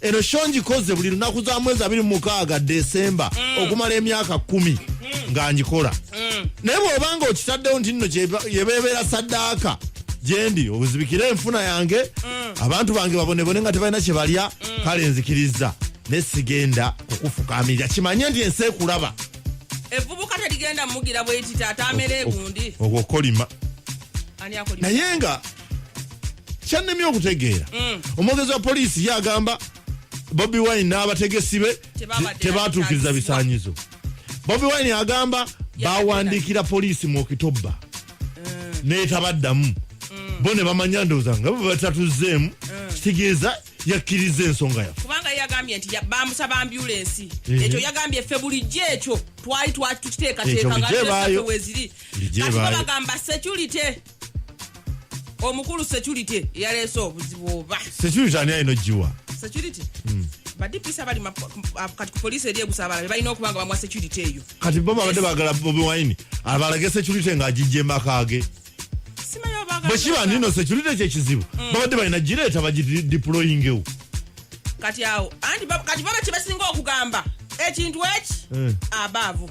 eno sho ngikoze buli lunaku za mwezi abiri mu mukaaga desemba mm. okumala emyaka kumi mm. nga ngikola mm. naye bwobanga okitaddewo nti nno yebebeera saddaaka gyendi obuzibikire enfuna yange abantu bange babonebone nga tebalina kyebalya kale nzikirizza ne sigenda kukufukamirira kimanye nti ensi ekulaba evubuka terigenda mugira bweti taata amere egundi ogwo kolima naye nga kyannemye okutegeera mm. omwogezi wa poliisi ye agamba bobi wine n'abategesi be tebaatuukiriza bisaanyizo bobi wine agamba bawandiikira poliisi mu okitobba mm. naye tabaddamu mm. bo ne bamanya ndowooza nga bwe batatuzzeemu kitegeeza yakkiriza ensonga yaffe kubanga yagambye nti bamusaba ambulensi mhm. ekyo yagambye ffe bulijjo ekyo twali twakiteekateeka nga weziri kati bagamba security omukulu security yaleese obuzibu oba security ani ayina ogiwa security hmm. badipisa bali ah, kati ku poliisi eri egusabala bebalina okuba nga bamuwa security eyo kati bo babadde bagala bobi wine abalage security nga agijja emaka ge bwekiba nino security kyekizibu hmm. babadde balina gireeta bagidiployingewo kati awo anti kati baba kyebasinga okugamba ekintu eki eh. abaavu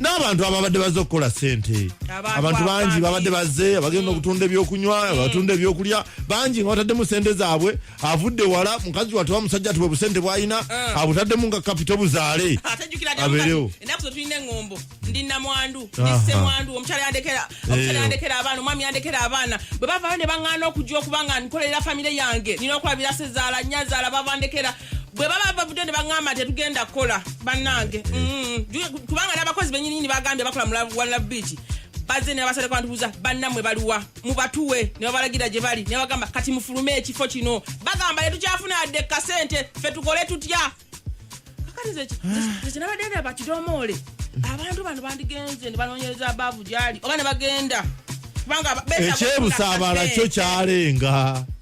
n'abantu ababadde bazze okukola sente abantu bangi babadde bazze abagenda okutunda ebyokunywa mm. abatunda ebyokulya bangi nga bataddemu sente zaabwe avudde wala mukazi watuba musajja tibwe busente bwalina mm. abutaddemu nga kapito buzaale abeerewo bwe bavayo ne baŋŋaana okujja okuba nga nkolera famire yange nina okulabira sezaala nyazaala bavandekera bwe baba bavudde ne baŋŋamba tetugenda kukola bannange mm. kubanga n'abakozi benyininyini bagambye bakola mu one love beach bazze nebabasaleko bantubuuza bannamwe baliwa mubatuwe ne babalagira gye bali ne bagamba kati mufulume ekifo kino bagamba tetukyafuna yadde kasente fe tukole tutya kakanizekinabadde ah. ndaba kidomoole abantu bano bandigenze ne banoonyereza abaavu gyali oba ne bagenda kubanga ekyebusaabala kyo kyalenga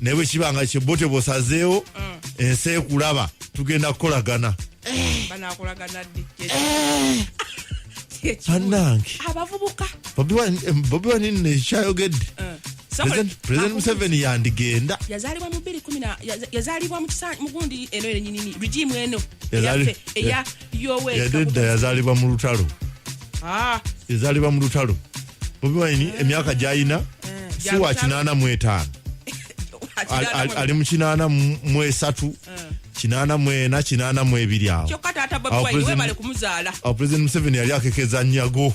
naye bwe kiba nga kyebbo tebosazeewo mm. ensi ekulaba tugenda kukolagana eh. banange bobi wani nno ekyayogedde president museveni yandigenda yazalibwa mu 2 yazalibwa mugundi eno enyinini regimu eno eya yadde edda yazaalibwa mu lutalo ah. yazaalibwa mu lutalo bobi wine eh. emyaka gyalina eh, si wa kinaana mu etaano ali mu kinaana mu esatu eh. kinaana mu ena kinaana mu ebiri awo awo pulezidenti museveni yali akekeza nyago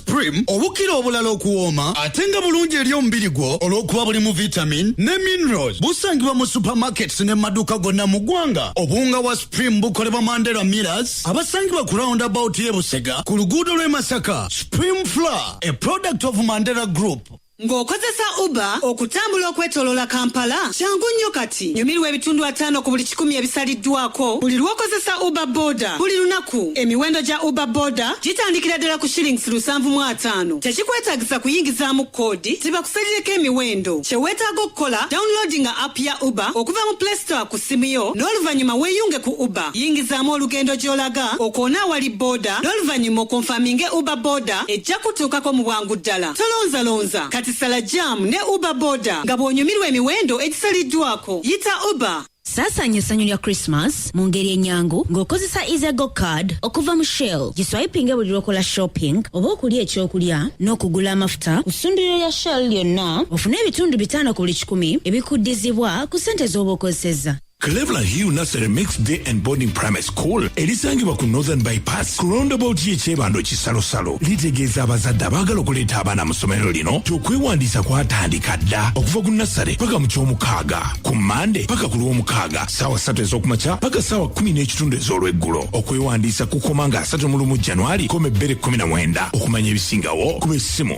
Prim obukira obulala okuwooma ate nga bulungi eri omubiri gwo olw'okuba bulimu vitamin ne minerals. Busangibwa mu supermarkets ne maduuka gonna mu ggwanga. Obuwunga wa Supreme bukolebwa Mandela Millers abasangibwa ku roundabout y'e Busega ku luguudo lw'e Masaka. Supreme Flour, a product of Mandela Group. Ng'okozesa Uber okutambula okwetoloola Kampala, kyangu nnyo kati. Nyumirwa ebitundu ataano ku buli kikumi ebisaliddwako buli lw'okozesa Uber Boda buli lunaku. Emiwendo gya Uber Boda gitandikira ddala ku shillings lusanvu mu ataano. Tekikwetaagisa kuyingizaamu kkoodi zibakusalireko emiwendo. Kye weetaaga okukola, downloadinga app ya Uber okuva mu Play Store ku ssimu yo n'oluvannyuma weeyunge ku Uber. Yingizaamu olugendo gy'olaga, okoone awali boda n'oluvannyuma okonfaminge Uber Boda ejja kukutuukako mu bwangu ddala. Tolonzalonza kati sala jam ne uber boda nga bw'onyumirwa emiwendo egisaliddwako. Yita uber. Saasaanya essanyu lya Christmas mu ngeri ennyangu ng'okozesa EasyGo Card okuva mu Shell. Giswayipinge buli lw'okola shopping oba okulya ekyokulya n'okugula amafuta ku ssundiro lya Shell lyonna ofune ebitundu bitaano ku buli kikumi ebikuddizibwa ku ssente z'oba okozesezza. Cleveland Hill Nursery Mix Day and Boarding Primary School erisangibwa ku Northern Bypass ku roundabout ye Kyebando Kisalosalo litegeeza abazadde abaagala okuleeta abaana mu ssomero lino nti okwewandiisa kwatandika dda okuva ku nassale paka mu ky'omukaaga ku Mande paka ku lw'omukaaga saawa ssatu ez'okumakya paka saawa kumi n'ekitundu ez'olweggulo okwewandiisa kukoma nga asatu mu lumu Januari koma ebbere kumi na mwenda okumanya ebisingawo kuba essimu